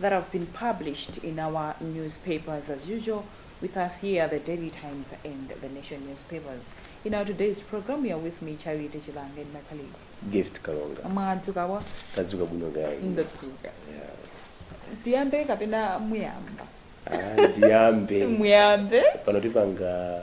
that have been published in our newspapers as usual with us here the daily times and the nation newspapers in our today's program you are with me charity chilange and my colleague gift kalonga mwadzuka bwanji tadzuka bwino kaya ndadzuka Yeah. tiyambe kapena muyamba Ah, ndiyambe muyambe pano tipanga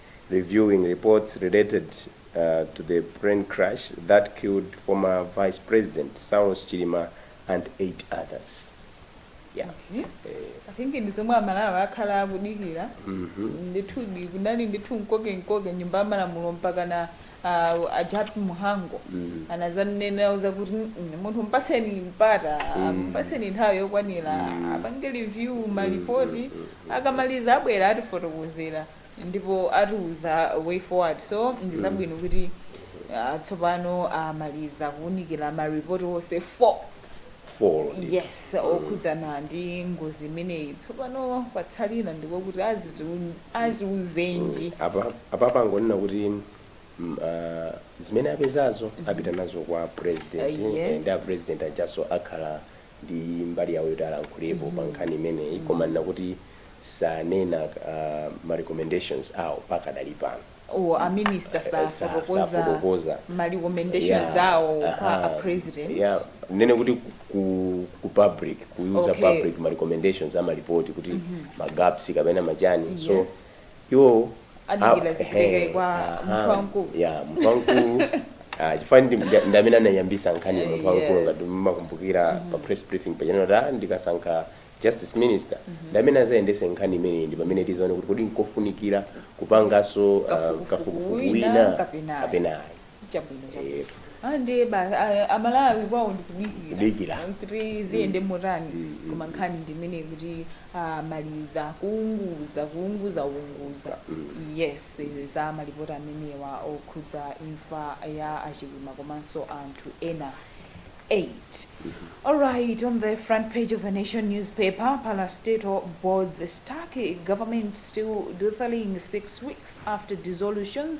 reviewing reports related to the plane crash that killed former vice president Saulos Chilima and eight others. Yeah. Okay. Eh, I think ndi zomwe amalawi akhala akudikira mhm. ndithudi kunali ndithu mkoke mkoke mnyumba ya malamulo mpaka na uh, ajawa Mhango Mm. anazanena zakuti "Mm, mm, munthu mpatseni mpata Mm. mpatseni nthawi yokwanira Mm. apange review malipoti mm, mm, mm. akamaliza abwera atifotokozera ndipo atiuza way forward so ndizabwino kuti ah, tsopano amaliza kuunikira ma report onse 4 Four. yes okhudzana ndi ngozi imeneyi tsopano patsalira ndiko kuti azitu- atiuzanji apa apa pangonena kuti mm, ah, zimene apezazo apita nazo kwa president Ah, yes. eh, ndi a president ajaso akhala ndi mbali yawo yoti alankhulepo pa nkhani imeneyi koma nena kuti sanena uh, ma recommendations awo pakadali pano Oh a minister Eh, sa- safotokoza safotokoza. ma recommendations Yeah, awo kwa aha. a president Yeah, ndinene kuti ku- ku, ku public kuiuza Okay. public ma recommendations ama report kuti ma gaps kapena machani so Yes. iwo Adikira azipeleke kwa munthu wamkulu. yeah munthu wamkulu ah, chifukwa ndi- ndi- ndi amene anayambisa nkhaniyi munthu wamkulu Yes. ngati mmakumbukira pa press briefing paja ananena kuti ah, ndikasankha justice minister ndi amene azayendese nkhani imeneyi ndi pamene tizaone kuti kodi nkofunikira kupangaso ah, Kafukufuku kafukufuku wina wina kapena ayi. kapena ayi chabwino chabwino Eh, Ah, ndiye basi ah, amalawi kwawo ndikudikira Kudikira. Ah, kuti ziyende motani Mm, mm, koma nkhani ndi imeneyo kuti amaliza kuunguza kuunguza unguza Mm. yes za malipoti amenewa okhudza imfa ya achilima komanso anthu ena 8 alright on the front page of the nation newspaper parastatal boards stuck government still doodling six weeks after dissolutions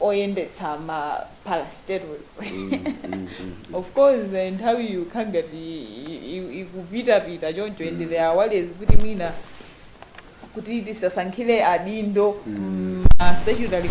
oyendetsa ma parastatals of course eh, nthawi ikukhala ngati i- i- ikupitapita choncho and there are worries kuti mwina kuti tisasankhire adindo mm, ma statutory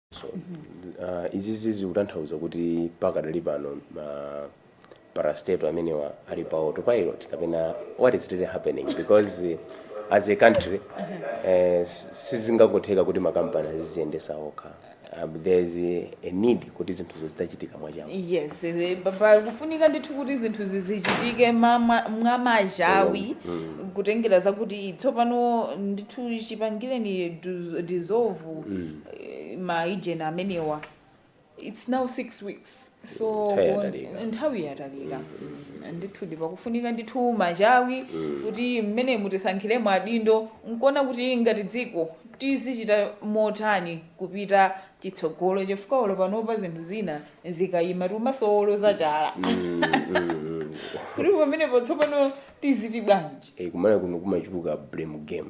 Izizi zikutanthauza kuti pakadali pano ma parastatal amenewa ali pa autopilot kapena what is really happening because as a country eh, sizingatheke kuti makampani aziziyendetsa okha um, there is a need kuti zinthuzo zitachitika mwamachawi yes eh, pa- pa- kufunika ndithu kuti zinthu zizichitike mama- mwamachawi kutengera zakuti tsopano ndithu chipangireni dis- dissolve eeh ma agent amenewa its now 6 weeks so Nthawi bon- yatalika. nthawi yatalika Mm, ndithudi pakufunika ndithu machawi kuti mmene mutisankhire mwa adindo nkuona kuti ngati dziko tizichita motani kupita chitsogolo chifukwa olo panopa zinthu zina zikayima timasowa woloza chala Mm, mm, mm. kuti pamenepo tsopano tiziti bwanji Eh, kumene kuno kumachuluka blame game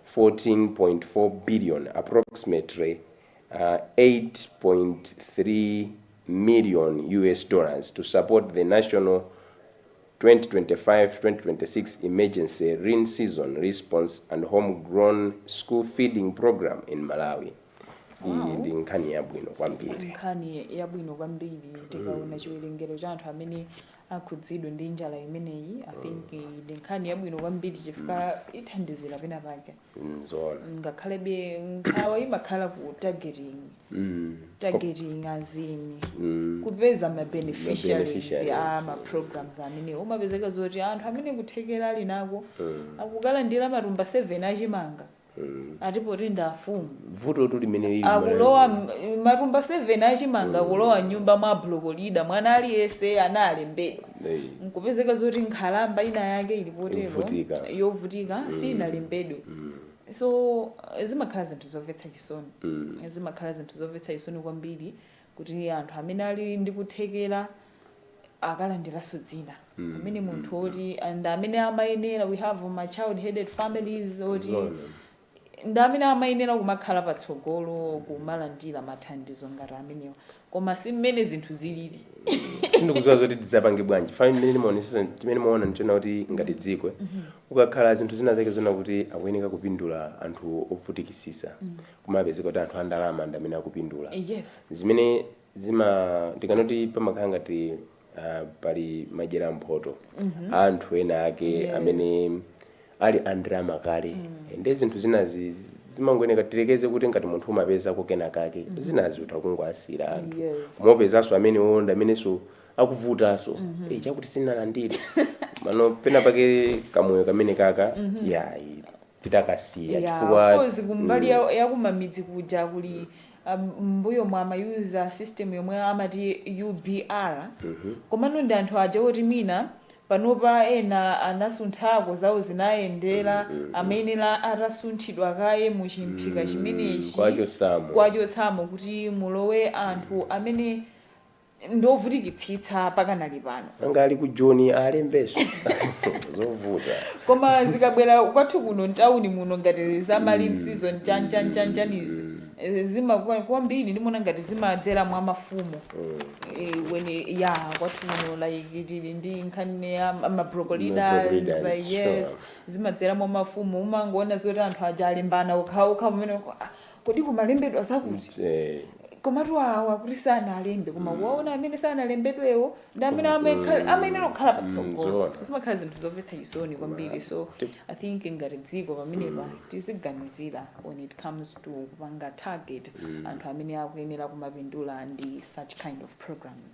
14.4 billion, approximately USD 8.3 million, to support the national 2025-2026 emergency lean season response and home grown school feeding program in Malawi. Iyi Wow. ndi nkhani yabwino kwambiri. nkhani yabwino kwambiri tikaona chiwerengero cha anthu amene akhudzidwe ndi njala imeneyi i think eh, ndi nkhani yabwino kwambiri chifukwa ithandizira pena pake Mm, zoona ngakhalebe nkhawa imakhala ku targeting Mm. targeting as in Mm. kupeza ma beneficiaries beneficiaries a ma programs amenewa umapezeka zoti anthu amene kuthekera ali nako Mm. akukalandira matumba 7 achimanga Ati poti ndi afumu. Vutotu limene lili Malawi Akulowa muno. m- matumba 7 achimanga akulowa m'nyumba mwa block leader. Mwana aliyense analembedwa. Ei. Nkupezeka zoti nkhalamba ina yake ili potero Yovutika. yovutika sinalembedwe. So zimakhala zinthu zomvetsa chisoni. Zimakhala zinthu zomvetsa chisoni kwambiri kuti anthu amene ali ndi kuthekera akalandiranso dzina Mm, pamene munthu mm, woti ndi amene amayenera we have ma child headed families oti Zoona. ndi amene amayenera kumakhala patsogolo kumalandira mathandizo ngati amenewa koma si mmene zinthu zilili sindikudziwa zoti tidzapange bwanji fami mmene ndimaonetsetsa chimene ndimaona ndi chonena kuti ngati dziko ukakhala zinthu zina zake zonena kuti akuyeneka kupindula anthu ovutikitsitsa kumapezeka kuti anthu andalama ndi amene akupindula yes zimene zima ndi kanoti pamakhala ngati ah, pali madyeramphoto a anthu ena ake amene ali andalama kale ndi zinthu zinazi zi- zimangoyeneka tilekeze kuti ngati munthu umapezako kena kake zinazi utha kungowasiyira anthu Yes. umapezanso amene onda amenenso akuvutanso Eh, chakuti sinalandire nawo pena pake kamoyo kamene kaka yayi titakasiya Yeah, chifukwa of course kumbali ya, ya kumamidzi kuja kuli um, m'mbuyo mwa amayuza system yomwe amati UBR komano ndi anthu aja oti mina panopa ena anasunthako zawo zinayendera amayenera atasunthidwa kaye mu chimphika chimenechi kuwachotsamo kuwachotsamo kuti mulowe anthu amene ndi ovutikitsitsa pakanali pano angali ku joni alembetso zovuta koma zikabwera kwathu kuno mtawuni muno ngati za ma lean season chanichanichanizi zimakuwa kwambiri ndimona ngati zimadzera mwa mafumu Eh, when ya kwathu kuno like tili ndi nkhani ya ma- ma block leaders Ma block leaders, like, sure. yes zimadzera mwa mafumu umangoona zoti anthu aja alembana okhaokha pamene kuti kumalembedwa zakuti Eh, komatu awo akuti sanalembe koma kuwaona amene sanalembedwewo ndi amene amekhala- amayenera kukhala Mm, patsogolo zoona. zimakhala zinthu zomvetsa chisoni kwambiri so Tip. i think ngati dziko pamenepa tiziganizira when it comes to kupanga target anthu amene akuyenera kumapindula ndi such kind of programs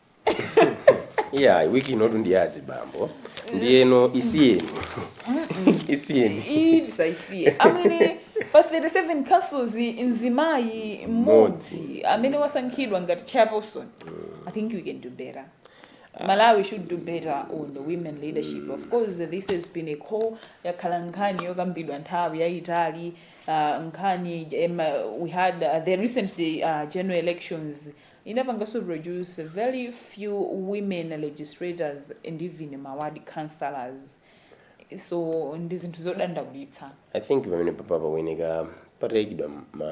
iyayi wiki inotu ndi ya azibambo ndiyeno isiyeni isiyeni Ii, tisaisiye I mean pa 37 councils mzimayi mmodzi amene wasankhidwa ngati chairperson i think we can do better malawi should do better on the women leadership of course this has been a call yakhala nkhani yokambidwa nthawi yayitali uh, nkhani um, uh, we had uh, the recent uh, general elections Inapangaso produce very few women legislators and even ma ward councillors so ndi zinthu zodandaulitsa. I think pamenepa pakuyeneka pataikidwa ma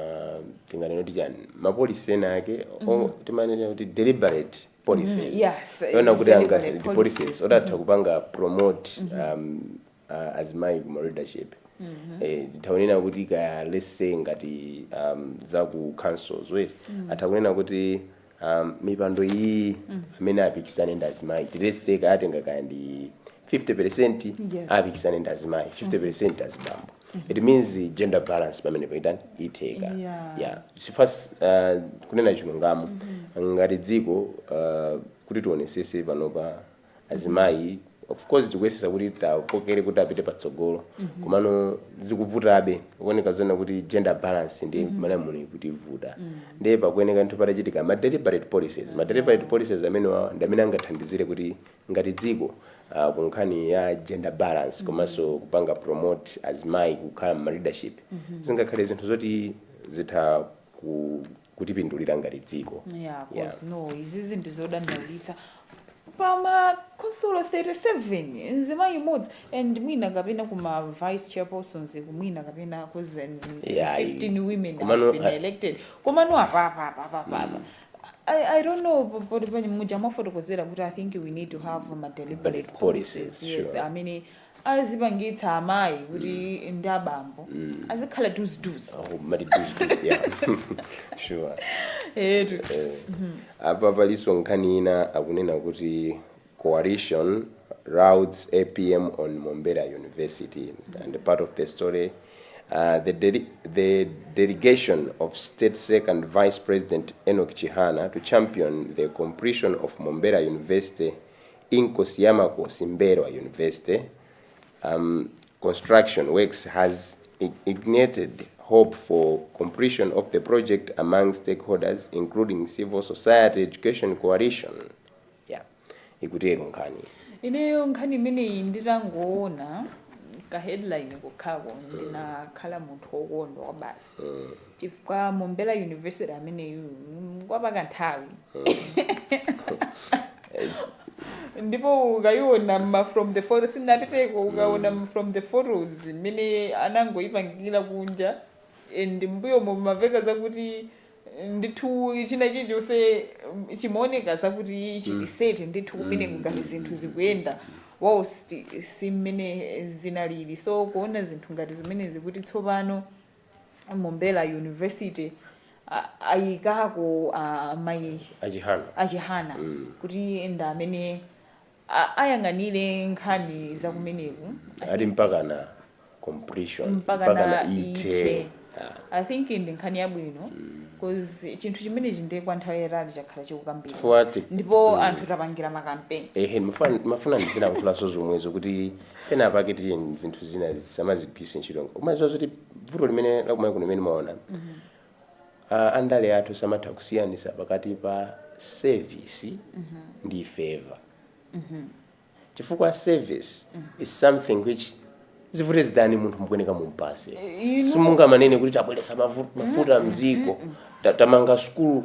tinganene kuti chani ma policy ena ake or timanena kuti deliberate policies yes, kuona kuti angati deliberate ndi policies policies. oti atha kupanga promote um, a azimayi ku ma leadership eh titha kunena kuti kaya let's say ngati um, za ku councils whereby atha kunena kuti um, mipando iyi amene apikisane ndi azimayi Ti let's say kaya atenga kaya ndi 50% Yes. apikisane ndi azimayi 50% azibambo it means the gender balance pamene pa itha kutheka Yeah. yeah chifukwa uh, kunena chilungamo ngati dziko uh, kuti tionetsetse panopa azimayi of course tikuyesetsa kuti tiwakokere kuti apite patsogolo komano zikuvutabe kuoneka zoona kuti gender balance ndi malawi muno ikutivuta ndiye pakuyeneka ndithu patachitika ma deliberate policies ma deliberate policies amenewa ndi amene angathandizire kuti ngati dziko ah, ku nkhani ya gender balance komanso kupanga promote azimayi kukhala m'ma leadership zingakhale zinthu zoti zitha ku kutipindulira ngati dziko yeah, yeah. no izizi ndizodandaulitsa pamakhonsolo 37 nzimayi mmodzi and mwina kapena kuma vice chairpersons mwina kapena cause 15 women have been elected komano apapapapapapa mm. I, I don't know muja mwafotokozera kuti i think we need to have ma deliberate policies yes sure. amene azipangitsa amayi kuti ndi abambo azikhala duziduzi Oh, mati duzi duzi yeah. sure. etu apa palinso nkhani ina akunena kuti coalition lauds apm on mombera university and part of the story uh, the, dele the delegation of state second vice president enoch chihana to champion the completion of mombera university Inkosi ya Makosi Mmbelwa University um construction works has ignited hope for completion of the project among stakeholders including civil society education coalition yeah ikutero nkhaniyi. Ineyo nkhani imeneyi nditangoona ka headline kokhako ndinakhala munthu wokondwa kwabasi. chifukwa mombera university ameneyu ngwapaka nthawi ndipo ukayiona ma from the photo sindinapiteko ukaona mm. from the photos mmene inangoyipangikira kunja and mbuyo mumaveka zakuti ndithu china chilichonse chimaoneka zakuti chilisete ndithu kumeneko mm. ngati zinthu zikuyenda whilst si mmene zinalili so kuona zinthu ngati zimenezi kuti tsopano Mombera University a- ayikako a mayi a chihana a chihana kuti ndi amene a- ayang'anire nkhani za kumeneku ali mpakana completion mpakana ithe Ah. i think ndi nkhani yabwino cause chinthu chimenechi ndiye kwa nthawi yatali chakhala chikukambidwa chifukwa ti- ndipo anthu tapangira makampeni ehe mafuna mafuna ndizina kuyankhulanso zomwezo kuti penapake tiyeni zinthu zina tisamazigwiritse ntchito nko- umaziwa zoti vuto limene lakumalawi kuno limene ndimaona ah, andale athu samatha kusiyanisa pakati pa service ndi favor chifukwa service is something which zivute zitani munthu mukuyeneka mumpase simungamanene kuti tabweresa mavu- mafuta mziko ta- tamanga sukulu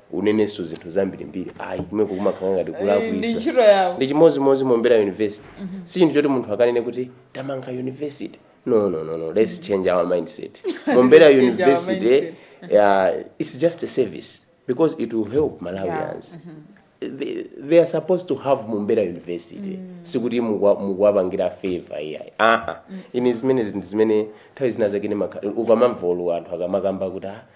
unenenso zinthu zambirimbiri ayi kumeko kumakhala ngati Eh, ndi kulakwisa ntchito yawo ndi chimodzimodzi mombera university si chinthu choti munthu akanene kuti tamanga university no no no no let's change our mindset mombera Let's change our university mindset. yeah, it's just a service because it will help malawians they, they are supposed to have mombera university sikuti mukwa- mukuwapangira favor iyayi aa ine zimenezi zinthu zimene nthawi zina zakene ukamamva olo anthu akamakamba kuti ah,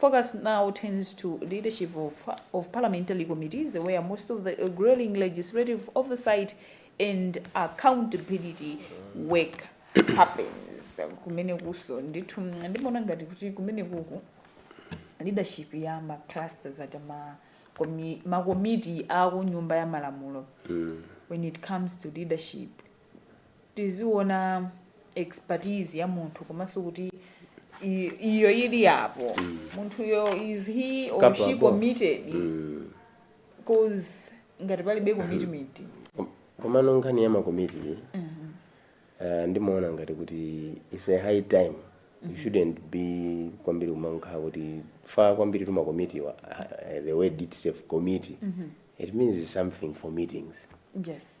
Focus now turns to leadership of parliamentary committees where most of the grueling legislative oversight and accountability work happens. Kumenekunso ndithu ndimaona ngati kuti kumenekuku leadership ya ma clusters aja ma komi- makomiti a ku nyumba ya malamulo when it comes to leadership tiziona expertise ya munthu komanso kuti i- iyo ili yapo munthuyo is he or she committed Mm. cause ngati palibe commitment Kom- komano nkhani ya makomiti uh, ndimaona ngati kuti its a high time you shouldn't be kwambiri kumakhala kutifaa kwambiritu makomitiwa uh, the word itself committee it means something for meetings yes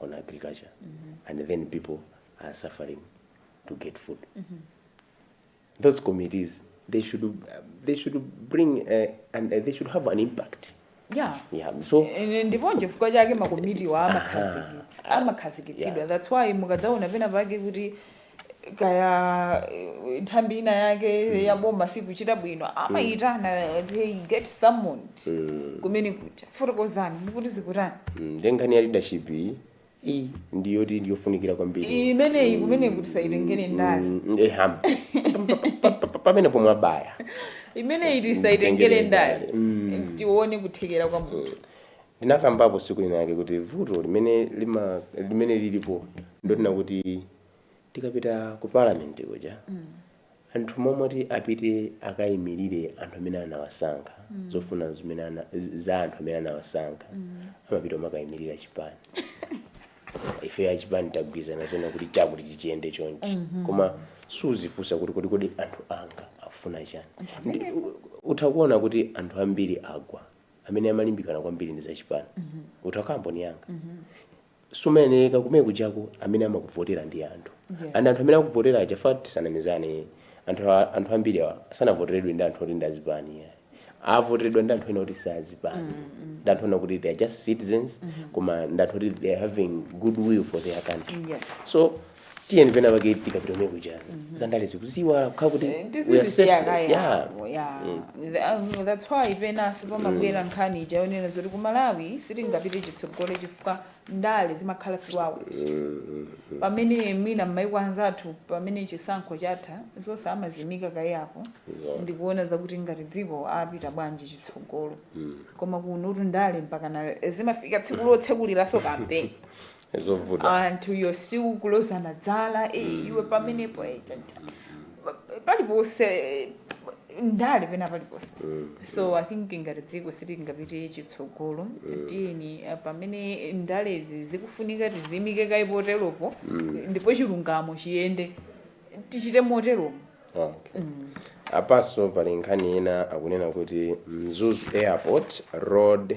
on agriculture mm -hmm. and then people are suffering to get food mm -hmm. those committees they should uh, they should bring uh, and uh, they should have an impact yeah yeah so ndipo chifukwa chake makomitiwa amakhazikitsidwa that's why mukadzaona pena pake kuti kaya eh, nthambi ina yake ya boma sikuchita bwino amayitana they get summoned kumene kuja fotokozani ndikuti zikutani Mm, nde nkhani ya leadership iyi iyi ndi yoti ndiyofunikira kwambiri imeneyi kumeneku tisayitengere ndale Mm, eh, ham. Pa- pa- pa- pamene pomwe abaya imeneyi tisayitengere ndale Mm. tione kuthekera kwa munthu Ndinakambapo tsiku lina lake kuti vuto limene lima, limene lilipo ndilonena kuti tikapita ku parliament kuja anthu mmalo moti apite akayimilire anthu amene anawasankha, zofuna zimene ana, za anthu amene anawasankha amapita kumakayimilira chipani. Ifeyo achipani tagwirizana zonena kuti chakuti chichiyende chonchi koma suzifunsa kuti kodi kodi anthu anga akufuna chani. Nde, utha kuona kuti anthu ambiri agwa amene amalimbikana kwambiri ndi zachipani utha kukhala mboni yanga sumayenera kumene kujako amene amakuvotera ndi anthu Yes. and anthu amene akuvotera aja fat tisanamizane, anthu a- anthu ambiri awa sanavoteredwe ndi anthu oti ndi azipani ayi. avoteredwa ndi anthu ena oti si azipani ndi anthu ena kuti they are just citizens koma ndi anthu oti they are having good will for their country yes so tiyeni pena pake tikapita kumene kuja zandale tiziziiwala kukhala kuti we are selfless, yeah. tiziziyika kaye that's why penanso pamabwera nkhani ija yonena zoti ku malawi sitingapite chitsogolo chifukwa ndale zimakhala throughout pamene mwina m'maiko anzathu pamene chisankho chatha zonse amazimika kaye apo Yeah. ndikuona zakuti ngati dziko apita bwanji chitsogolo koma kunotu ndale mpakana zimafika tsiku lotsekuliranso kampeni zovuta anthu osiya kulozana zala eh, iwe pamenepo eh, ta- ta- pa- paliponse eh, ndale pena paliponse so i think ngati dziko sitingapite chitsogolo tiyeni eh, pamene ndalezi zikufunika tizimike kaye poteropo ndipo chilungamo chiyende tichite moteromo okay. apanso pali nkhani ina akunena kuti mzuzu airport road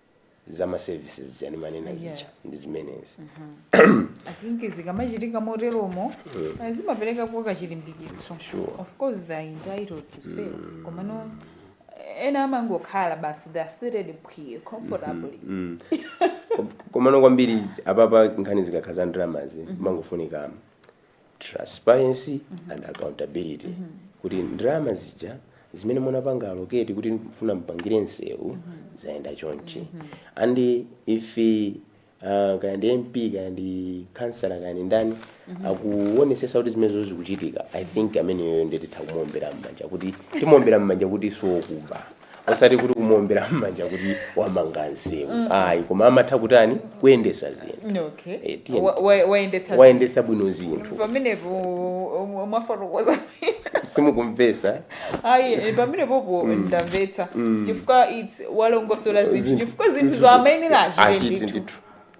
za ma services amene ndimanena zija Yes. ndi zimenezi i think zikamachitika moteromo eh, zimapereka kachilimbikitso Sure. of course they are entitled to say komano eh, ena amangokhala basi they are seated phee comfortably Mm. Kom- komano kwambiri apapa nkhani zikakhala za ndalama zimangofunika transparency and accountability kuti ndalama zija zimene munapanga allocate kuti mfuna mpangire nsewu zayenda chonchi and if uh, kaya ndi mp kaya ndi kansala kaya ndi ndani akuonesesa kuti zimenezo zikuchitika i think ameneyoyo nde titha kumuombera mmanja kuti timuombera mmanja kuti siokuba osati kuti kumuombera m'manja kuti wamanga msewu ayi koma anatha kutani kuyendesa zinthu okay Eh, tiye. Wa- wa- wayendetsa wayendesa bwino zinthu pamenepo um, mwafotokoza simukumvesa ayi eh, pamenepopo ndamvetsa chifukwa it's walongosola zinthu Zinthu. chifukwa zinthu Zinthu. zoamayenera achite Achite ndithu ndithu.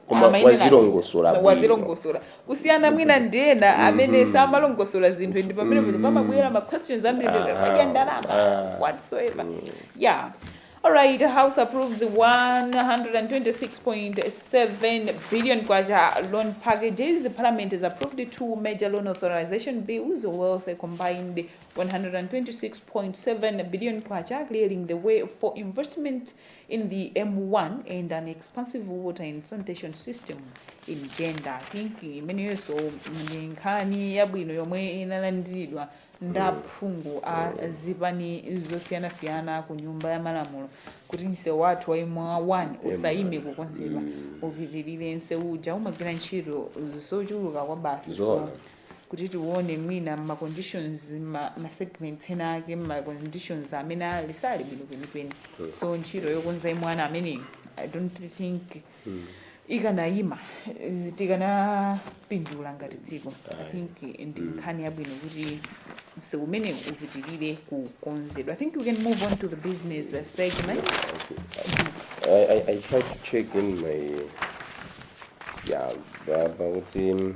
koma Amayenera- wazilongosola bwino wazilongosola kusiyana mwina ndi ena amene samalongosola zinthu ndi pamene mm. pamabwera ma questions ambiri kuti Aha. wadya ndalama Ah. whatsoever yeah alright house approves 126.7 billion kwacha loan packages the parliament has approved two major loan authorization bills worth a combined 126.7 billion kwacha clearing the way for investment In the M1 and an expansive water and sanitation system in Jenda. I think imeneyonso ndi nkhani yabwino yomwe inalandiridwa ndi aphungu a zipani zosiyanasiyana ku nyumba ya malamulo kuti msewu wathu wa M1 usayime kukonzedwa upitirire msewu uja umagwira ntchito zochuluka kwabasi so Zoona. kuti tikaona mwina mma conditions ma, ma segments ena ake mma conditions amene ali sali bwino kwenikweni so ntchito yokonza ya M1 imeneyo i don't think ikanayima eh, tikanapindula ngati dziko i think ndi nkhani yabwino kuti msewu umenewu upitirire kukonzedwa i think we can move on to the business uh, segment I, I, I tried to check in my yeah, but, but um,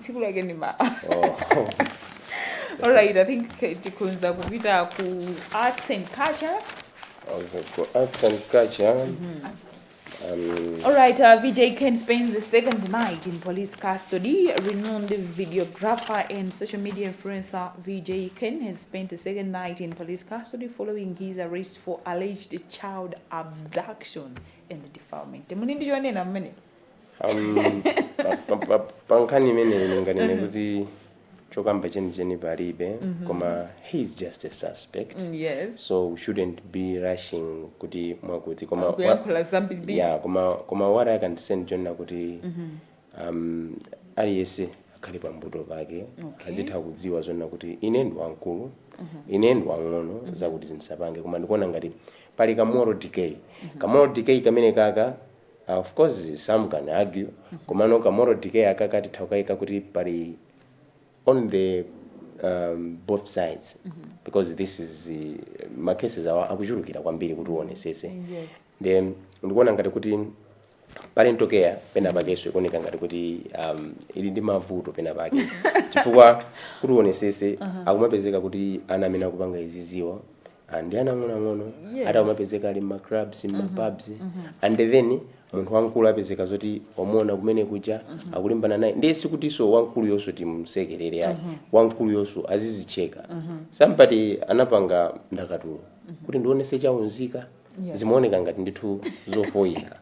tsiku lake ndi ma Oh. alright i think tikhonza kupita ku arts and culture Okay, for arts and culture. Um, Alright, uh, VJ Ken spends the second night in police custody. Renowned videographer and social media influencer VJ Ken has spent the second night in police custody following his arrest for alleged child abduction and defilement. Muli ndi chonena mmene? Um, pa- pa- pa- pa nkhani imeneyi ndinganene kuti chokamba chenicheni palibe koma he is just a suspect Mm, yes so we shouldn't be rushing kuti mwakuti koma wa- kuyankhula zambiri yeah koma koma what i can say ndi chonena kuti um aliyese akhale pambuto pake Okay. azitha kudziwa zonena kuti ine ndi wamkulu ine ndi wang'ono zakutizi ndisapange koma ndikuona ngati pali ka moral decay ka moral decay kamene kaka Of course some can argue komano ka moral decay akaka titha kukaika kuti pali on the um, both sides because this is uh, ma cases awa akuchulukira kwambiri kuti uwonesese Yes. nde ndikuona ngati kuti parental care pena pakeso ikuoneka ngati kuti um, ili ndi mavuto pena pake chifukwa kuti uonesese akumapezeka kuti ana amene akupanga iziziwa Ah, ndi ana ang'onoang'ono Yes. ati akumapezeka ali mmaclubs mmapubs and then munthu wamkulu apezeka zoti wamuona kumene kuja akulimbana naye ndiye sikutinso wamkulu yonso timsekerere ayi wamkulu yonso azizicheka somebody anapanga ndakatulo kuti ndionese chaunzika Yes. zimaoneka ngati ndithu zofoyira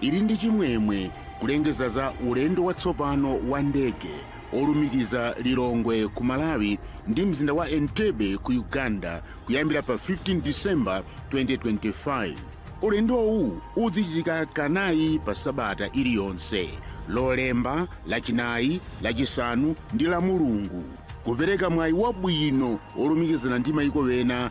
ili ndi chimwemwe kulengeza za ulendo watsopano wa ndege olumikiza lilongwe ku malawi ndi mzinda wa entebbe ku uganda kuyambira pa 15 december 2025 ulendowu udzichitika kanayi pa sabata iliyonse lolemba lachinayi lachisanu ndi lamulungu kupereka mwayi wabwino olumikizana ndi mayiko ena